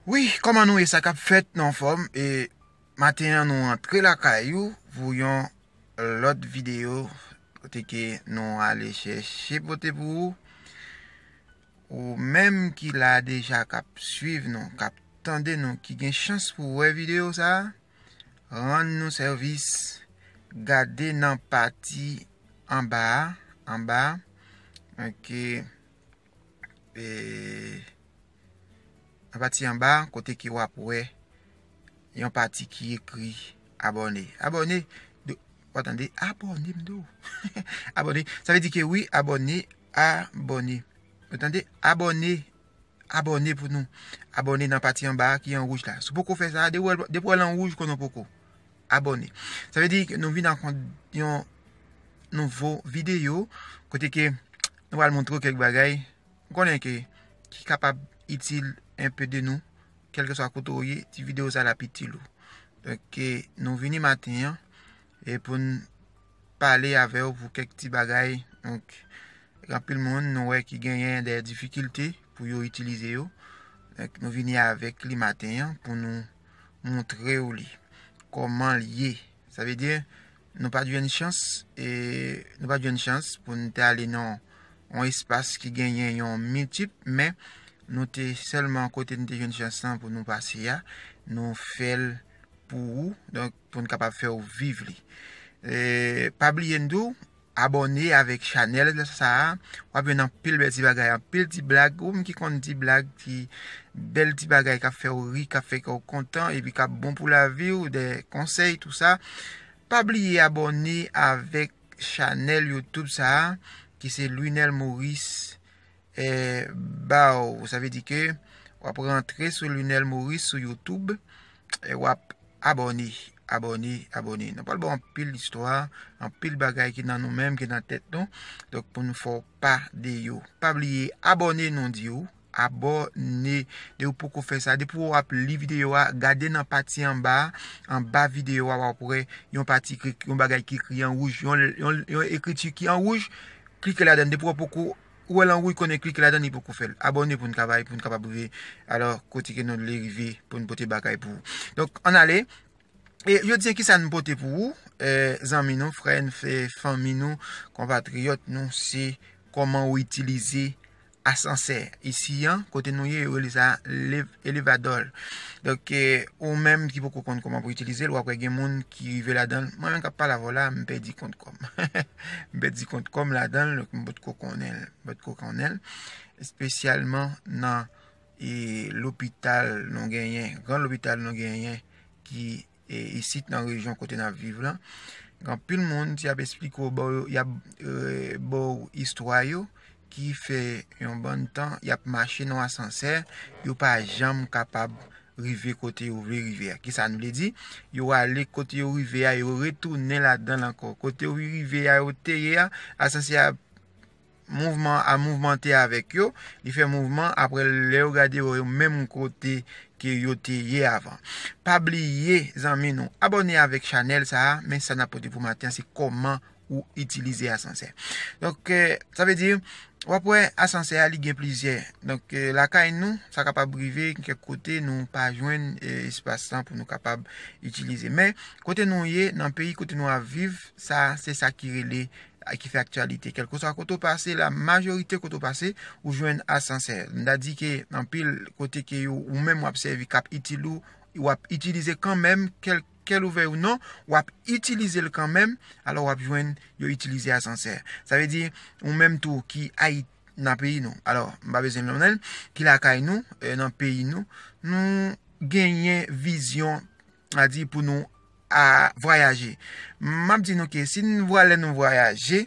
Wi koman nou ye sa kap fet nou anfom e maten an nou antre lakay ou pou yon lot video kote ke nou ale cheche pote pou ou ou menm ki la deja kap swiv nou kap tande nou ki gen chans pou we video sa. Rann nou sèvis, Gade nan pati anba a, anba a, ok, e, nan pati anba a, kote ke w ap wè yon pati ki ekri abòne. Abòne, do, ou tande, abòne m di w, abòne, sa vle di ke wi abòne, abòne, ou tande, abòne, abòne pou nou. Abòne nan pati anba a ki an wouj la. Si w poko fè sa, depi wè l an wouj konnen w poko abòne. Sa vle di nou vin ak yon nouvo videyo kote ke nou pral montre w kèk bagay m konnen ke ki kapab itil enpe de nou. Kèlkeswa kote w ye, ti videyo sa l ap itil ou. Donk nou vini maten an e pou n pale avè ou pou kèk ti bagay. Donk, anpil moun nou wè ki genyen de difikilte pou yo itilize yo. Donk, nou vini avèk li maten an pou nou montre ou li. Koman li ye. Sa ve di, nou pa jwenn chans, e nou pa jwenn chans pou nou te ale nan yon espas ki genyen yon multip, men nou te selman kote nou te jwenn chans lan pou nou pase ya, nou fèl pou ou. Donk. Pou n kapab fè w viv li. Pa bliye n di w abòne avèk chanèl sa a. W ap jwenn anpil bèl ti bagay, anpil ti blag. Ou menm ki konn ti blag, ti bèl ti bagay k ap fè w ri, k ap fè kè w kontan epi k ap bon pou lavi w, de konsèy tou sa. Pa bliye abòne avèk chanèl Youtube sa a ki se Luinel Maurice baw sa vle di ke wap rantre sou Lunel Maurice sou youtube e wap abòne abòne abòne nou pral baw anpil istwa anpil bagay ki nan nou menm ki nan tèt nou donk pou nou fè w pa de yo pa bliye abòne nou diw abòne de ou poko fè sa depi wap li videyo a gade nan pati anba anba videyo a wap wè yon pati yon bagay ki ekri an wouj yon ekriti ki an wouj klike ladan depi wap poko Ou wè lan wouy konnen klike ladan li poko fèl abòne poun ka bay poun kapab rive alò kotike nou vle rive poun pote bagay pou ou donk ann ale e jodi an kisa nou pote pou ou zanmi nou frè n fè fanmi nou konpatriyòt nou se kòman ou itilize asansè isi an kote nou ye yo rele sa elevadòl donk ou menm ki poko konn kòman pou itilize l wap wè gen moun ki rive ladan mwen menm kap pale avè w la m pèdi kont kòm. m pèdi kont kò m ladan l, m pa t ko konnen l, m pa t ko konnen l, espesyalman nan lopital nou genyen, gran lopital nou genyen ki isit nan rejyon kote n ap viv lan. Anpil moun, si y ap esplike w, y ap ba w istwa yo, ki fè yon bann tan y ap mache nan asansè, yo pa janm kapab rive kote yo vle rive a. Kisa nou vle di? Yo ale kote yo rive a, yo retounen ladan l ankò. Kote yo rive a, yo te ye a, asansè a mouvman an a mouvmante avèk yo, li fè mouvman, apre lè yo gade yo menm kote ke yo te ye avan. Pa bliye zanmi nou abòne avèk chanèl sa a, men sa n ap pote pou maten an se kòman ou itilize asansè. Donk, sa vle di, w ap wè asansè a li gen plizyè. Donk, lakay nou, sa kapab rive gen kèk kote nou pa jwenn espas lan pou nou kapab itilize. Men, kote nou ye, nan peyi kote nou ap viv, sa se sa ki rele, ki fè aktyalite. Kèlkeswa kote ou pase, la majorite kote ou pase, ou jwenn asansè. M ta di ke anpil kote ke yo ou menm w ap sèvi k ap itil ou, w ap itilize kanmenm kèlk. Kel ouvè ou non wap itilizel kanmenm alò wap jwenn yo itilize asansè sa vle di ou menm tou ki ayiti nan peyi nou alò m pa bezwen nonmenl ki lakay nou nan peyi nou nou genyen vizyon a di pou nou a vwayaje map di nou ke si nou vwale nou vwayaje.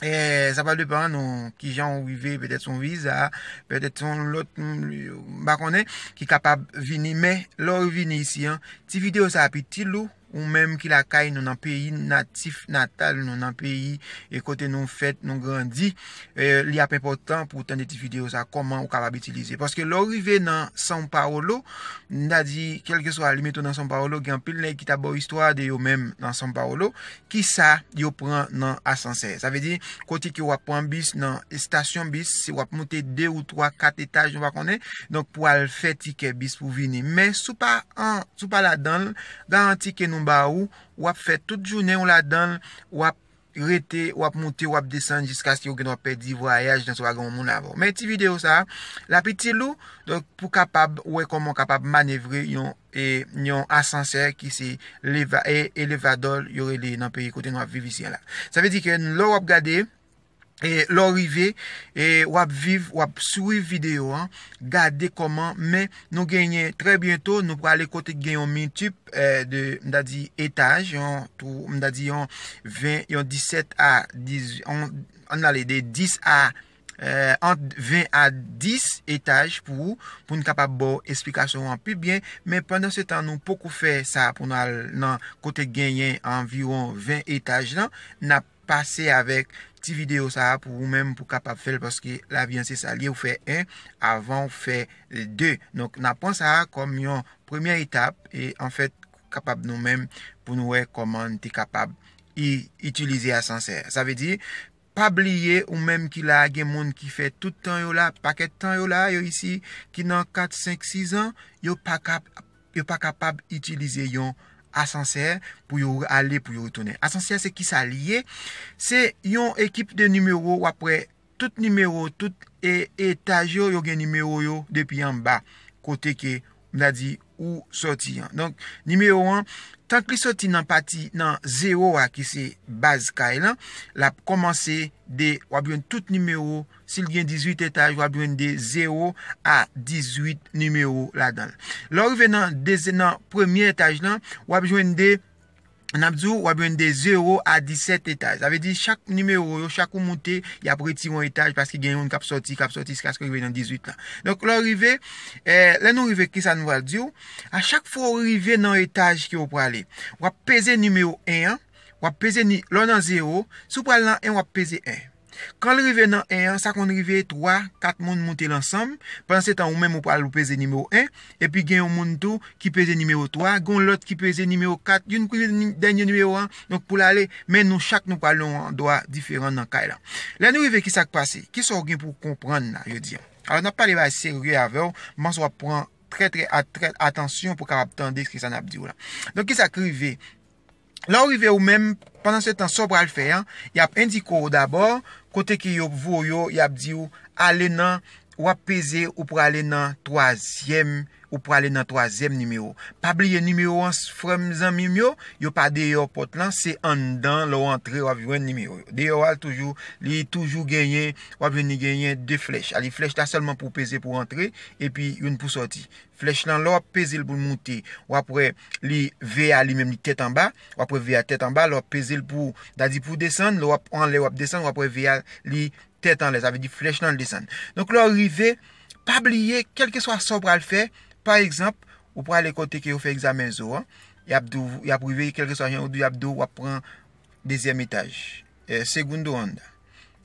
Eh, sa pa depan nou, ki jan ou rive, petè son viza, petè son lot, mba konnen, ki kapab vini, men, lò ou vini isi an, ti video sa api ti lou, ou menm ki lakay nou nan peyi natif natal nou, nan peyi e kote nou fèt, nou grandi, eh, li ap enpotan pou tande ti video sa, koman ou kapab itilize. Paske lò ou rive nan San Paolo, mda di, kelke swa li meto nan San Paolo, gen pil nèk ki ta bo istwa de yo menm nan San Paolo, Kisa yo pran nan asansè? Sa vle di, kote ke wap pran bis nan estasyon bis, si wap moute 2 ou 3, 4 etaj nou pa konnen, donk pou al fè tikè bis pou vini. Men, si w pa an, si w pa ladan l, garanti ke nou ba ou, wap fè tout jounen w ladan l, wap rete, wap moute, wap desann jiskaske ou gendwa pèdi vwayaj nan si w pa gen yon moun avè w. Men ti videyo sa, lap itil ou, donk pou kapab wè kòman w kapab manevre yon. yon asansè ki se elevador yo rele nan peyi kote nou ap viv isi a la. Sa vle di ke lè w ap gade, lè w rive, w ap viv, w ap swiv videyo an, gade kòman, men nou genyen trè byento nou prale kote gen yon multip de, m ta di etaj, yon tou, m ta di yon 20, yon 17 a 18, an n ale de 10 a. ant 20 a 10 etaj pou ou, pou n kapab ba w esplikasyon an pi byen, men pandan se tan nou poko fè sa pou nou al nan kote genyen anviwon 20 etaj lan, n ap pase avèk ti videyo sa a pou ou menm pou kapab fè l paske lavi an se sa l ye ou fè 1 avan ou fè 2. Donk n ap pran sa a kòm yon premyè etap e anfèt kapab nou menm pou nou wè kòman n te kapab itilize asansè. Sa vle di Pa bliye ou menm ki la a gen moun ki fè tout tan yo la, pakèt tan yo la a, yo isi, ki nan 4, 5, 6 an, yo pa ka, yo pa kapab itilize yon asansè pou yo ale, pou yo retounen. Asansè se ki sa li ye? Se yon ekip de nimewo, w ap wè tout nimewo, tout etaj yo, yo gen nimewo yo depi anba kote ke m ta di ou sòti an. Donk, nimewo 1, tank li sòti nan pati, nan zewo a ki se baz kay lan, l ap kòmanse de, w ap jwenn tout nimewo, si l gen 18 etaj, w ap jwenn de zewo a 18 nimewo ladan l. Lè w rive nan dezi, nan premye etaj lan, w ap jwenn de. n ap di ou, w ap jwenn de 0 a 17 etaj. Sa vle di chak nimewo yo, chak ou moute, y ap retire yon etaj paske gen youn k ap soti, k ap soti jiskaske w rive nan 18 lan. Donk lè w rive, lè nou rive kisa nou pral di ou, a chak fwa ou rive nan etaj ke ou prale, w ap peze nimewo 1 an, w ap peze, lè w nan 0, si w pral nan 1 w ap peze 1. Kan l rive nan 1 an, sa konn rive 3, 4 moun moute l ansanm, pandan se tan ou menm ou pral ou peze nimewo 1, epi gen yon moun tou ki peze nimewo 3, gen yon lòt ki peze nimewo 4, youn peze dènye nimewo 1, donk pou l ale, men nou chak nou pral nan yon andwa diferan nan kay lan. Lè nou rive ki sa k pase? Ki sa w gen pou w konprann la jodi an? Alò n ap pale bagay serye avè w, m panse w ap pran trè trè atansyon pou w kapab tande ki sa n ap di w la. Donk ki sa k rive? Lè w rive ou menm, pandansetan sa w pral fè an, y ap endike w dabò kote ke yo voye w, y ap di w ale nan, w ap peze ou prale nan twazyèm, ou prale nan twazyèm nimewo. Pa bliye nimewo an frè m zanmi m yo, yo pa deyò pòt lan, se anndan lè w antre w ap jwenn nimewo yo. Deyò a l toujou, li toujou genyen, w ap jwenn li genyen 2 flèch. Alè flèch la sèlman pou w peze pou w antre, epi youn pou w sòti. Flèch lan lè w ap peze l pou l moute, w ap wè li ve a li menm li tèt anba, w ap wè ve a tèt anba, lè w ap peze l pou, ta di pou w desann, lè w ap anlè w ap desann, w ap wè ve a li tèt anlè, sa vle di flèch lan desann. Donk lè w rive, pa bliye kèlkeswa sa w pral fè, pa egzanp, ou prale kote ke yo fè egzamen zo an, y ap di w, y ap rive kèlkeswa jan yo di w, y ap di w w ap pran dezyèm etaj. segundo anda.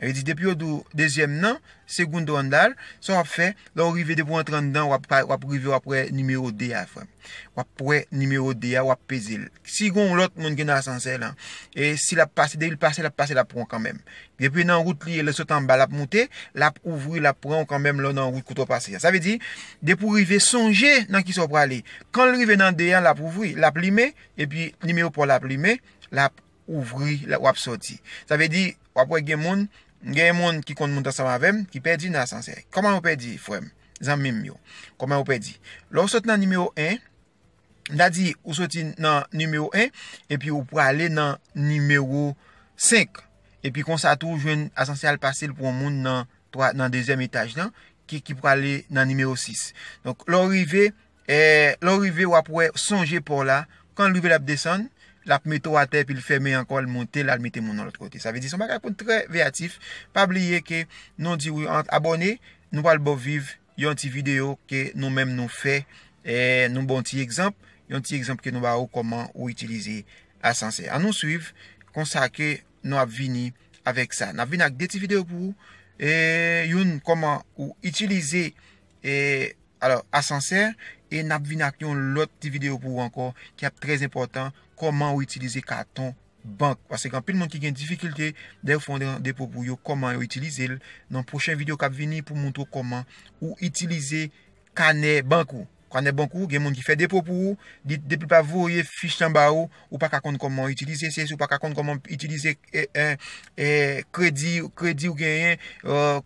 Yo di depi yo di w dezyèm nan, segundo andar, sa w ap fè, lè w rive depi w antre anndan, w ap rive w ap wè nimewo 2 a frè m. W ap wè nimewo 2 a, w ap peze l. Si gen yon lòt moun ki nan asansè lan, e si l ap pase, depi l pase, l ap pase l ap pran w kanmèm. Depi nan wout li ye, lè sot anba l ap moute, l ap ouvri, l ap pran w kanmèm lè w nan wout kote w pase a. Sa vle di, depi w rive sonje nan ki sa w prale. Kan l rive nan 2 an, l ap ouvri, l ap limen, epi nimewo pa w la ap limen, l ap ouvri lè wap soti sa vle di wap wè gen moun gen moun ki konn moun ta sanm avèm ki pèdi nan asansè kòman yo pèdi frèm zanmim yo kòman yo pèdi lè ou sot nan nimewo 1 m ta di ou soti nan nimewo 1 epi ou prale nan nimewo 5 epi konsa tou ou jwenn asansè al pase l pou yon moun nan nan dezyèm etaj lan ki prale nan nimewo 6 donk lè ou rive Lè w rive wap wè sonje paw la, kan l rive lap desann, lap mete w atè epi l fèmen ankò l monte l al mete moun nan lòt kote. Sa vle di se yon bagay pou n trè veyatif, pa bliye ke nou di wi ank abòne, nou pral ba w viv yon ti video ke nou menm nou fè, nou ba w ti egzanp, yon ti egzanp ke nou ba ou kòman ou itilize asansè. An nou swiv konsa ke nou ap vini avèk sa. Nap vini ak 2 ti video pou ou, youn kòman ou itilize E alò asansè e nap vin ak yon lòt ti video pou ou ankò ki ap trè enpòtan kòman ou itilize katon bank paske gen anpil moun ki gen difikilte lè yo fè yon depo pou yo kòman yo itilizel nan pwochen video kap vini pou moutre ou kòman ou itilize kanè bank ou kanè bank ou gen moun ki fè depo pou ou li depi lap voye fich lan ba ou ou pa ka konn kòman w itilize se si w pa ka konn kòman w itilize kredi kredi w genyen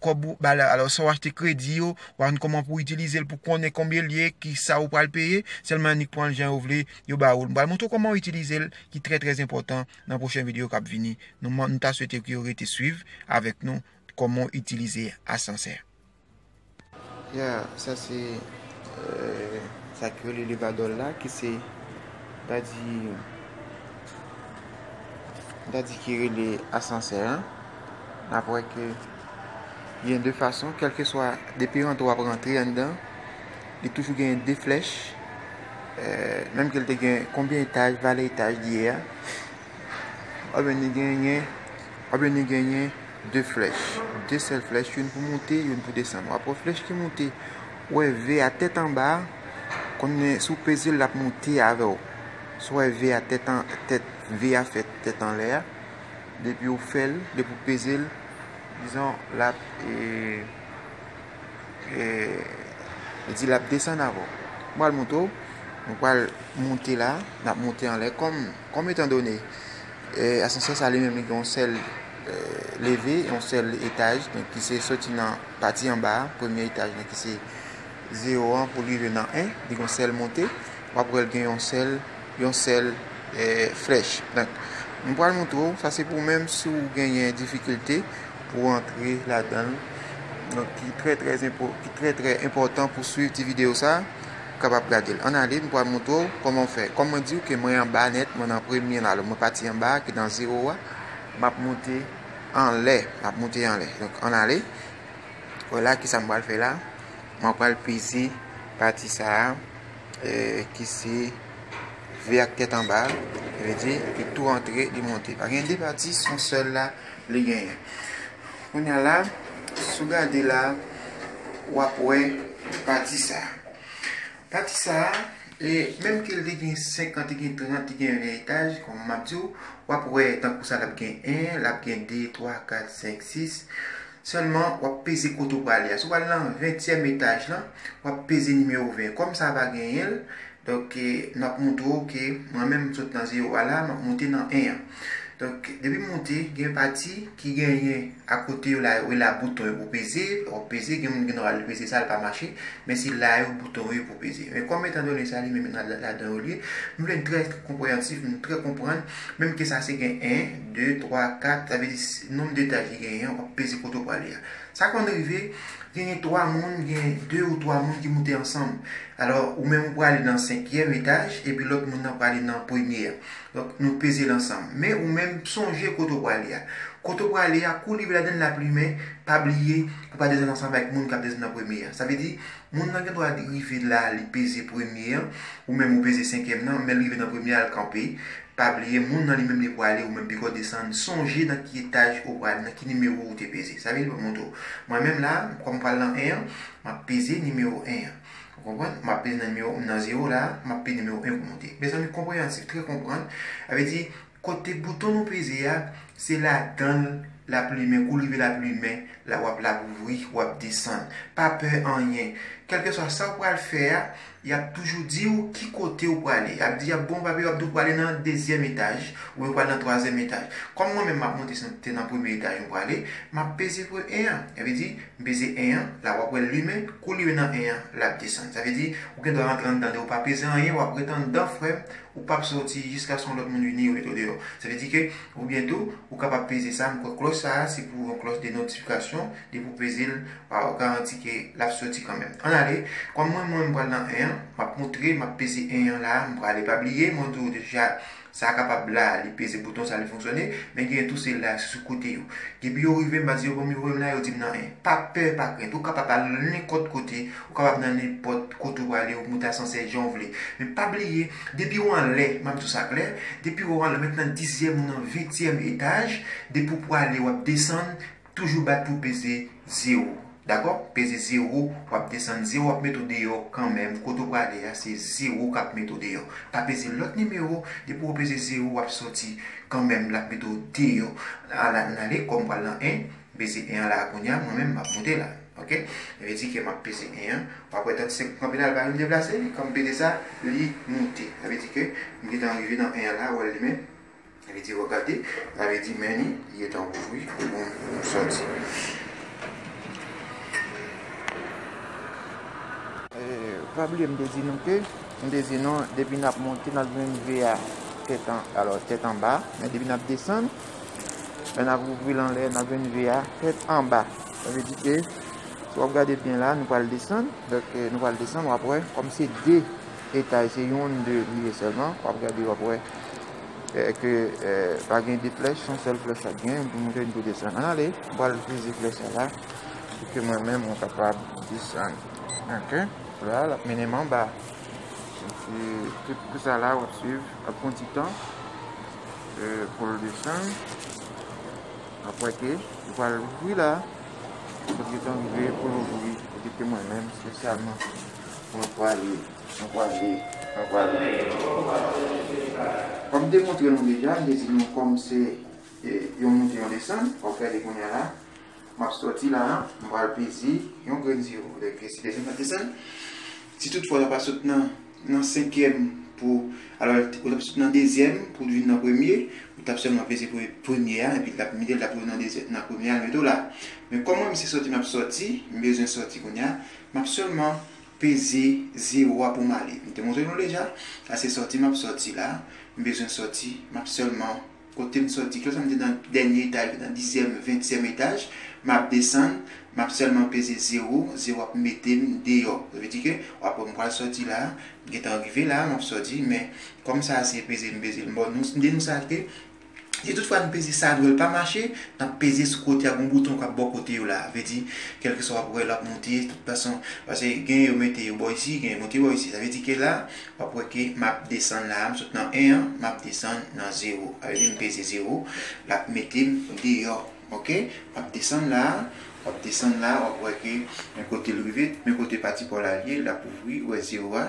kòb ou ba la alò sa w achte kredi yo w pa konn kòman pou w itilize l pou konnen konbyen l ye ki sa ou pral peye sèlman annik pran l jan yo vle yo ba ou l m pral montre w kòman w itilize l ki trè trè enpòtan nan pwochen videyo k ap vini nou ta swete ke w rete swiv avèk nou kòman w itilize asansè. Ya sa se sa ki rele levadòl la ki se dadi dadi ki rele asansè an n ap wè ke gen de fason kèlkeswa depi rantre w ap rantre anndan li toujou gen de flèch menm ke l te gen konbyen etaj valè etaj li ye a oubyen li genyen oubyen li genyen 2 flèch, 2 sèl flèch, youn pou moute, youn pou desann. W'ap wè flèch ki moute, ou wè V a tèt anba, konnen si w peze l l'ap moute avè w. Si w wè V a tèt an, tèt, V a fè tèt anlè a, depi ou fè l, depi ou peze l, dizon l'ap, e, e, li di l'ap desann avè w. Mwen pral montre w, mwen pral moute la, l'ap moute anlè, kòm, kòm etan done, e, asansè sa li menm li gen yon sèl. leve yon sèl etaj donk ki se soti nan pati anba a premye etaj nan ki se 0 an pou rive nan 1 li gon sèl monte wap wèl gen yon sèl yon sèl flèch donk m pral montre ou sa se pou menm si ou genyen difikilte pou antre ladan donk ki trè trè ki trè trè enpòtan pou swiv ti video sa kapab gade l an ale m pral montre ou kòman fè kòman diw ke mwen anba nèt mwen nan premye la mwen pati anba ki nan 0 a Map moute anlè map moute anlè donk ann ale wè la kisa m pral fè la mwen pral peze pati sa ki se ve ak tèt anba sa vle di li tou antre li moute pa gen 2 pati se yon sèl la li genyen kounya la si w gade la wap wè pati sa Pati sa a, menm ke l te gen 5 an, te gen 30 an, te gen 20 etaj, kòm m ap di w, w ap wè tankou sa l ap gen 1, l ap gen 2, 3, 4, 5, 6. Sèlman, w ap peze kote w prale a. Si w prale nan ventyèm etaj lan, w ap peze nimewo 20. Kòm sa a pa genyen l, donk, m ap montre w ke mwen menm m sot nan zewo a la, m ap monte nan 1 an. Donk, depi monte, gen yon pati ki genyen akote yo la yo, e la bouton yo pou peze, wap peze, gen moun gen dwa al peze sa li pa mache, men se la yo bouton yo ye pou peze. Men kòm etan done sa li menm nan ladan yo li ye, m vle n trè konpreyansif, nou trè konprann, menm ke sa se gen 1, 2, 3, 4, sa vle di nonb de etaj li genyen an, wap peze kote ou prale a. Sa konn rive, genyen 3 moun, genyen 2 ou 3 moun ki moute ansanm. Alò, ou menm ou prale nan senkyèm etaj, epi lòt moun nan prale nan premye a. Donk nou peze l ansanm. Men ou menm sonje kote w prale a. Kote w prale a, kou w rive ladann l a plimen, pa bliye pou pa desann ansanm avèk moun k ap desann an premye a. Sa vle di, moun nan gendwa rive la li peze premye an, ou menm ou peze senkyèm nan, men l rive nan premye a l kanpe. Pa bliye moun nan li menm li prale ou menm piko desann, sonje nan ki etaj ou prale, nan ki nimewo ou te peze. Sa vle di pou m montre w. Mwen menm la, kòm m pral nan 1 an, m ap peze nimewo 1 an. Ou konprann? Map pini nan nimewo, m nan zero la, map pini nimewo 1 pou monte. Mezanmi konpreyansif, trè konprann. Sa vle di, kote bouton nou peze a, se ladan l lap limen, kou l rive lap limen, la wap lap ouvri, wap desann. Pa pè anyen. Kèlkeswa sa ou pral fè a, yap toujou di ou ki kote ou prale. Yap di, yap ba w papye, yap di w prale nan dezyèm etaj, oubyen ou prale nan twazyèm etaj. Kòm mwen menm map monte, se te nan premye etaj mwen prale, map peze pre 1 an. Sa vle di, M peze 1 an, la wap wèl limen, kou limen nan 1 an, lap desann. Sa vle di, ou gen dwa rantre anndan de ou pa peze anyen, wap ret anndan frèm, ou pap soti jiskaske yon lòt moun vini yo met ou deyò. Sa vle di ke, oubyen tou, ou kapab peze sa, m kwè klòch sa a se pou yon klòch de notifikasyon, depi ou peze l, wa garanti ke lap soti kanmenm. Ann ale, kòm mwen mwen m pral nan 1 an, map moutre, map peze 1 an la a, m prale pa bliye, mwen di w deja Sa kapab la a, li peze bouton sa li fonksyone, men genyen tou selila ak se sou kote yo. Depi yo rive, m ap di yo bon m yo voye m la, yo di m nan en. Pa pè, pa krent, ou kapab al nan nenpòt kote, ou kapab nan nenpòt kote ou prale, ou monte asansè jan ou vle. Men pa bliye, depi ou anlè, m ap di w sa klè, depi ou anlè, mèt nan dizyèm ou nan ventyèm etaj, depi ou prale w ap desann, Toujou bat pou peze 0 Dakò peze 0 wap desann 0 ap met ou deyò kanmenm kote ou prale ya se 0 kap met ou deyò pa peze lòt nimewo depi ou peze 0 wap sòti kanmenm lap met ou deyò ala ann ale kòm pral nan 1 m peze 1 an la kounya mwen menm map moute la ok sa vle di ke map peze 1 an wap wè 35 pou kanpe la l pa janm deplase li kòm m peze sa li moute sa vle di ke m gentan rive nan 1 an la wè l li menm. Sa vle di regade, sa vle di men li, li gen tan ouvri pou moun sòti. Pa bliye m te di nou ke, m te di nou depi nap monte nap jwenn ve a tèt an, alò tèt anba, men depi nap desann, lè nap ouvri l anlè nap jwenn ve a tèt anba. Sa vle di ke, si wap gade byen la nou pral desann, nou pral desann wap wè kòm se 2. Detay se youn de li ye sèlman, wap gade wap wè ke pa gen de flèch, son sèl flèch wap gen pou moute ni pou desann. Ann ale, m pral itilize flèch sa la pou ke mwen menm mwen kapab desann. Ok, la lap mennen m anba. Epi tout kou sa la wap swiv, lap pran ti tan pou l desann. Wap wè ke li pral louvri la, li pral louvri pou ke mwen menm espesyalman Mwen prale, mwen prale, mwen prale. Kòm m te montre nou deja, m te di nou kòm se yon moute yon desann, wap gade kounya la, map sòti la, m pral peze yon grenn si yo vle ke si desann pa desann. Si tout fwa la pa sot nan nan senkyèm pou alò ou tap sot nan dezyèm pou vin nan premye, ou tap sèlman peze premye a epi lap mete l tap rive nan premye a l mete w la. Men kòm mwen m se sòti map sòti, m bezwen sòti kounya. Map sèlman peze zero a poum ale. M te montre nou deja, sa se sòti map sòti la, m bezwen sòti, map sèlman kotem sòti klèsa m te nan dènye etaj la, nan dizyèm, ventyèm etaj, map desann, map sèlman peze zero, zero ap metem deyò. Sa vle di ke wap wè m pral sòti la, m gentan rive la, map sòti, men kòm sa se peze m peze l, bon nou di nou sa ke Si tout fwa n peze sa dwèl pa mache, n ap peze sou kote a gon bouton k ap bò kote yo la, vle di kèlkeswa w ap wè l ap moute tout fason, pase gen yo mete yo bò isi, gen yo moute bò isi, sa vle di ke la w ap wè ke m ap desann la a, m sot nan 1 an, m ap desann nan 0, sa vle di m peze 0, l ap mete m deyò, ok, m ap desann la a, w ap desann la a, w ap wè ke men kote l rive, men kote pati pa w la ye, l ap ouvri, ou wè 0 a,